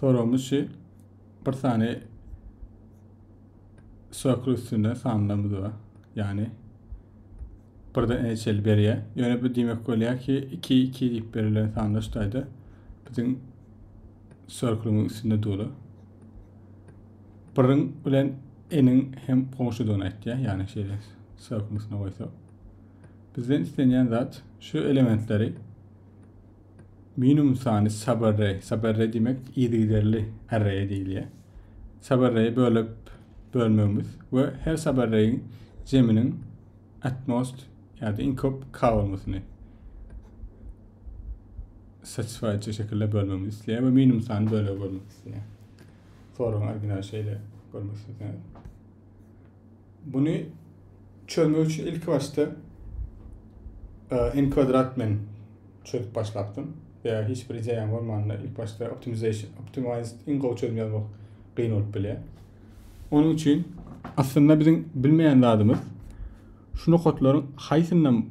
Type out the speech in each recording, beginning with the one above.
Soragymyz şu. Bir sany sökür üstünde sanlarymyz bar. Yani birden eneçeli berýär. Ýöne bu diýmek bolýar ki 2 2 diýip berilen sanlar şu taýda biziň sörküliň üstünde doly. Birin bilen eniň hem goňşudygyny aýtýar. Yani şeýle sörküň üstüne goýsak. Bizden islenýän zat şu elementleri Minimum sany saberre, saberre diýmek yzygiderli arreýe diýilýär. Saberreýi bölüp bölmegimiz we her saberreýiň jeminiň at most ýa-da iň köp k bolmasyny satisfy etjek şekilde bölmegimizi isleýär we minimum sany bölegi bölmek isleýär. Soragyň original şeýle görmek isleýär. Buny çözmek üçin ilki başda e, n kwadrat bilen çözüp başlapdym. Ýa hiç bir ideýaň bolmanda ilk başda optimization, optimized iň gowy çözüm ýazmak kyn bolup bilýär. Onuň üçin aslynda biziň bilmeýän zadymyz şu nokatlaryň haýsyndan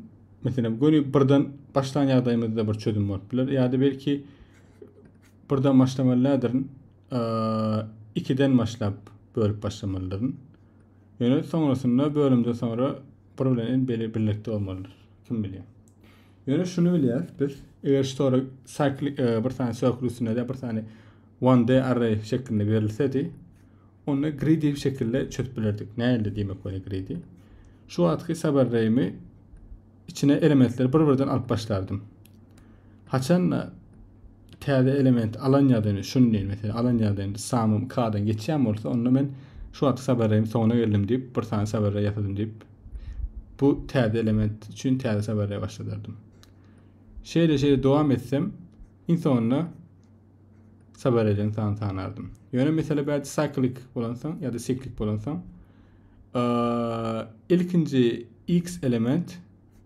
meselem göni birden başlan ýagdaýymyzda bir çözüm bolup biler ýa-da belki birden başlamalydyr. ikiden başlap bölüp başlamalydyryn. Ýöne soňrasynda bölümde soňra bir bilen en beli birlikde bolmalydyr. Kim bilýär. Ýöne şuny bilýäris biz, eger story cycle e, bir sany circle üstünde de bir sany one day array şeklinde berilsedi, onda greedy şekilde çözüp bilerdik. Nähili diýmek bolýar greedy? Şu wagtky subarray'mi içine elementleri bir-birden alyp başlardym. Haçanda täze element alan ýadany şun diýen mesela alan ýadany samym kadan geçýän bolsa onda men şu wagt sabarrym soňuna geldim diýip bir sany sabarra ýasadym diýip bu täze element üçin täze sabarra başladardym. Şeýle şeýle dowam etsem iň soňunda sabarrelerin sany sanardym. Ýöne mesela bädi cyclic bolansoň ýa-da siklik bolansoň Ilkinji X-element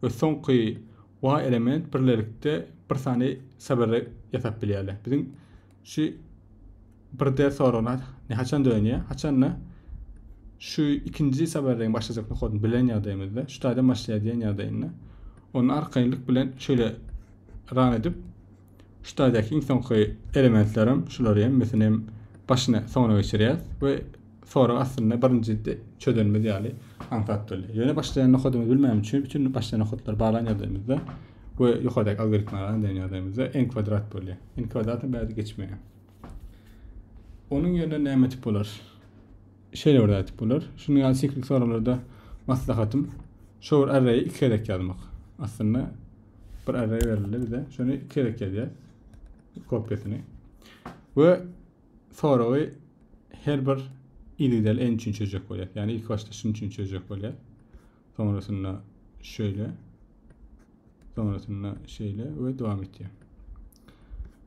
we soňky Y-element birlelikde bir sany sabere ýasap bilýärler. Biziň şu 1D soragyna ne haçan dönýär? Haçanda şu ikinji saberleň başlajak nokadyny bilen ýagdaýymyzda, şu taýdan başlaýar diýen ýagdaýynda, onda arkaýynlyk bilen şeýle ran edip, Şu taýdaky iň soňky elementlerem şulary hemmesinem başyna soňuna geçirýäs we sorag aslynda birinji çözenimiz ýaly aňsat bolýar. Ýöne başlaýan nokadymyzy bilmän üçin bütün başlaýan nokatlary baglan ýagdaýymyzda we ýokardaky algoritmi alan diýen ýagdaýymyzda n kwadrat bolýar. n kwadratam bärde geçmeýär. Onuň ýerine näme etip bolar? Şeýle bir zat bolar. Şunuň ýaly siklik soraglarda maslahatym şu bir arraýy iki gezek ýazmak. Aslynda Bir array berildi bize. Şunu iki gezek ýazýar. Kopýasyny. Ve soragy her bir individual en üçin çözecek bolýar. Yani ilk başta şunun üçin çözecek bolýar. Sonrasynda şöyle. Sonrasynda şöyle ve devam etýär.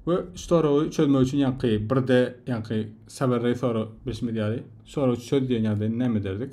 Ve şu soragy çözmek üçin yankı bir de yankı saberray soru bilişimiz ýaly soragy çöz diýen ýagdaýynda näme ederdik?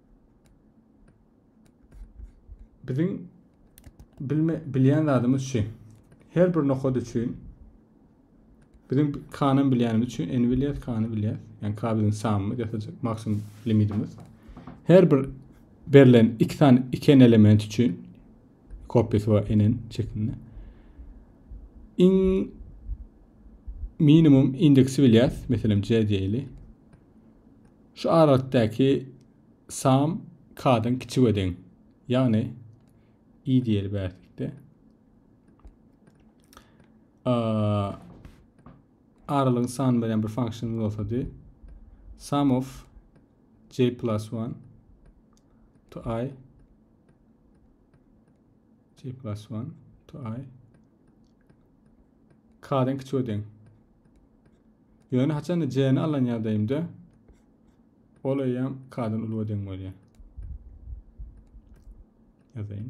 Biziň bilme, bilýän zadymyz şu. Her bir nokad üçin biziň kanan bilýänimiz üçin n bilýär, kany bilýär. Yani k biziň samymyz ýasaja maksimum limitimiz. Her bir berlen iki tane iki n element üçin kopyasy var n şeklinde. In minimum indeksi bilýär. Meselem c diýeli. Şu aralikdäki sam k-dan kiçige deň. Ýagny i diýeli bärlikde. Aralygyň sany bilen bir funksiýamyz bolsady. Sum of j plus 1 to i j plus 1 to i k-den kiçi we deň. Ýöne haçanda j-ni alan ýagdaýymda ol eýýäm k-dan uly we deň bolýar. Ýazaýyn.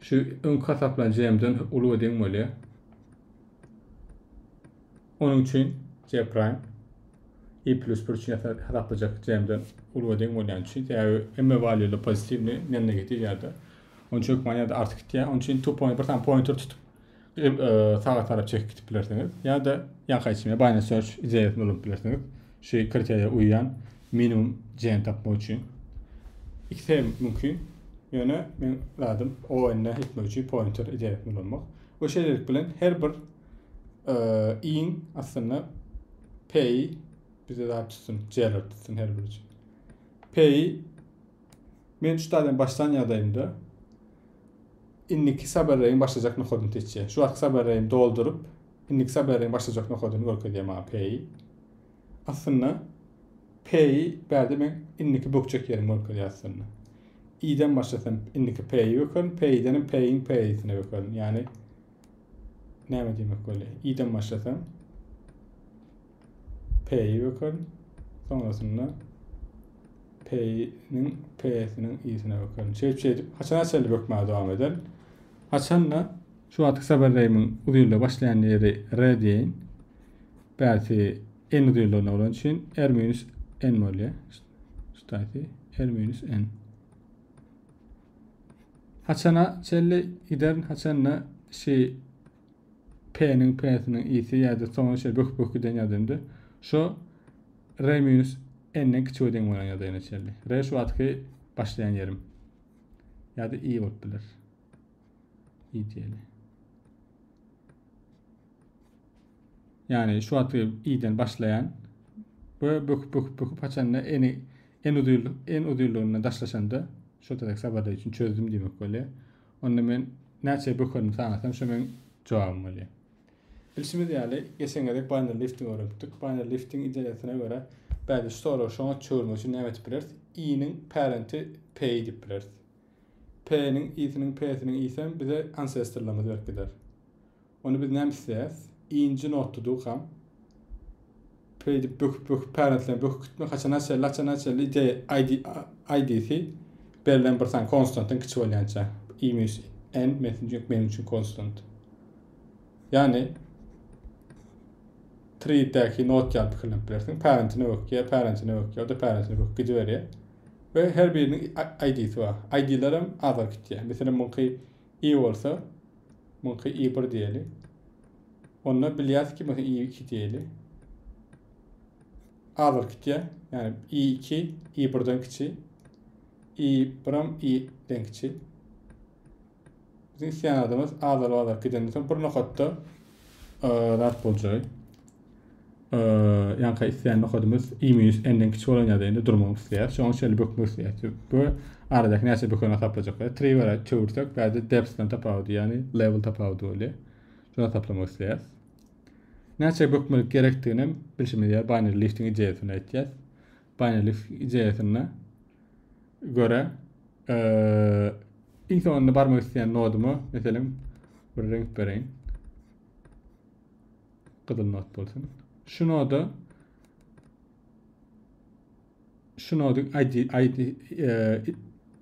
Şu öňki hasaplan JM-den uly we deň bolýar. Onuň üçin J prime i plus 1 üçin hasaplajak JM-den uly we deň bolýan üçin sebäbi hemme valýular pozitiwny, men negatiw ýa-da. Onuň üçin hökmany ýa-da artyk gitýär. Onuň üçin two point bir sany pointer tutup Edip e, saga tarap çekip gidip bilersiňiz. Ýa-da ýaka içine binary search ideýasyny ulanyp bilersiňiz. Şu kriteriýa uýýan minimum jeň tapmak üçin. Ikisi hem mümkin. Ýöne men zadym ON-e etmek üçin pointer ideýasyny ulanmak. Bu şeýlelik bilen her bir e, iň aslynda P-i bize zat tutsun, J-ler tutsun her biri üçin. P-i Men şu taýdan başlan ýagdaýymda indiki saberreýiň başlajak nokadyny seçýän. Şu wagtky saberreýimi dolduryp, indiki saberreýiň başlajak nokadyny görkezýär maňa P-i. Aslynda P-i bärde men indiki bökjek ýerimi görkezýär aslynda. I-den başlasam indiki P-i bökerin, P-i-denem P-iň P-isine bökerin. Ýagny näme diýmek bolýar? i-den başlasam p-i bökerin. Soňrasynda p-niň p-siniň i-sine bökerin. Şeýdip şeýdip haçana çenli bökmäge dowam eder. Haçanda şu wagtky sabardaýymyň uzynlygy başlaýan ýeri r diýeýin. Bärsi n uzynlygyna bolan üçin r minus n bolýar. Ştaýsi r minus n. Haçana çenli giderin haçanda şi P'niň P'siniň i'si ýa-da soňy şeýle böküp böküp giden ýa-da indi şo R minus N'den kiçi we deň bolan ýagdaýyna çenli. R şu wagtky başlaýan ýerim. Ýa-da i bolup biler. I diýeli. Yani şu atı iyiden başlayan ve böküp böküp böküp haçanda eni en uzun en uzunluğuna daşlaşanda şu tadek sabada için çözdüm demek böyle. Onda men näçe bökerim sanasam şu men cevabım böyle. Bilşimiz ýaly, geçen gezek banner lifting öwrenipdik. Banner lifting ideýasyna görä, bäde şu sorag şoňa çöwürmek üçin näme edip bileris? I-niň parenti P-i diýip bileris. P-niň i-siniň p-siniň i-sem bize ansestrlarymyz berip gider. Onda biz näme isleýäs? I-nji notda dukam p diýip böküp böküp pärentleme böküp gitmek haçana çenli haçana çenli ide ID ID'si berlen bir san konstantdan kiçi bolýança i minus n metin çünki meniň üçin konstant. Ýagny tridäki not ýaly pikirlenip bilersiň. Parentine bökýär, parentine bökýär, o-da parentine böküp gidiberýär. we her biriniň ID-si bar. ID-ler hem azar gitýär. Meselem, muňky i bolsa, muňky i bir diýeli. Onda bilýäs ki, mesela i iki diýeli. Azar gitýär. Ýani i iki, i birden kiçi. i bir hem i den kiçi. Biziň isleýän adamymyz azal bazar gidenden soň bir nokatda zat boljagy. Ýanka isleýän nokadymyz i minus n-den kiçi bolan ýagdaýynda indi durmak isleýär. Şoň üçin şeýle bökmek isleýär. Bu aradaky näçe bökeni hasaplajaklar. Triwara çewirsek, bäde depsden tapawudy, ýagny level tapawudy bolýar. Şunu hasaplamak isleýär. Näçe bökmelik gerekdigini hem bilşimiz ýaly binary liftiň ideýasyny aýtýar. Panelist ideýasyna görä, iň soňunda barmak isleýän noduma, meselem, bir reňk bereýin. Gyzyl nod bolsun. Şu noda şu nodyň ID, ID, e,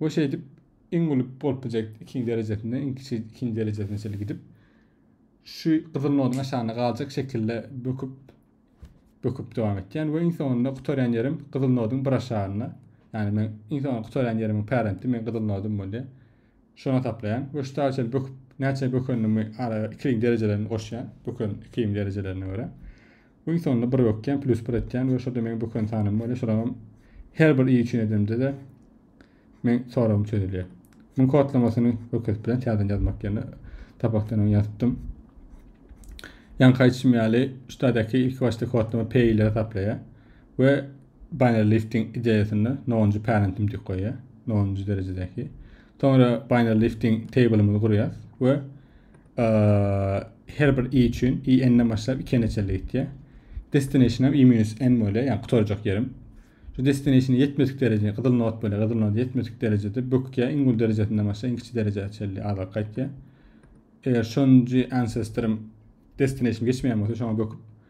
we şeýdip iň uly polpjekt ikinji derejesinde iň kiçi ikinji derejesine çenli gidip şu gyzyl noduň aşagynda galjak şekilde böküp böküp dowam etýän we iň soňunda gutarýan ýerim gyzyl noduň bir aşagynda ýagny men iň soňunda gutarýan ýerimiň parenti men gyzyl nodum bolýar Şona taplaýan we şu saga çenli böküp näçe bökendimi ara ikiligiň derejelerini goşýan böken ikiligiň derejelerine görä. Iň sonunda bir bökýän plus bir etýän we şoda meň böken sanym bolýar şolam her bir i üçin edemde de men soragym çözülýär. Muň kodlamasyny hökes bilen täzeden ýazmak ýerine sapakdan öň ýazypdym. Ýaňky aýdyşym ýaly şu taýdaky ilki başda kodlama p ile taplaýar we Binary lifting ideýasynda nolunjy parentim dik goýýar, nolunjy derejedäki. Soňra binary lifting tablymyzy gurýar we her bir i üçin i n-den başlap 2n-e çenli gitýär. Destinationam i minus n bolýar, ýagny gutarjak ýerim. Şu destinationy ýetmedik dereje, gyzyl not bolýar, gyzyl not ýetmedik derejede bökýär, iň uly derejesinden başlap iň kiçi derejä çenli azalyp gaýtýar. Eger şonunjy ancestorym destinationy geçmeýän bolsa, şoňa böküp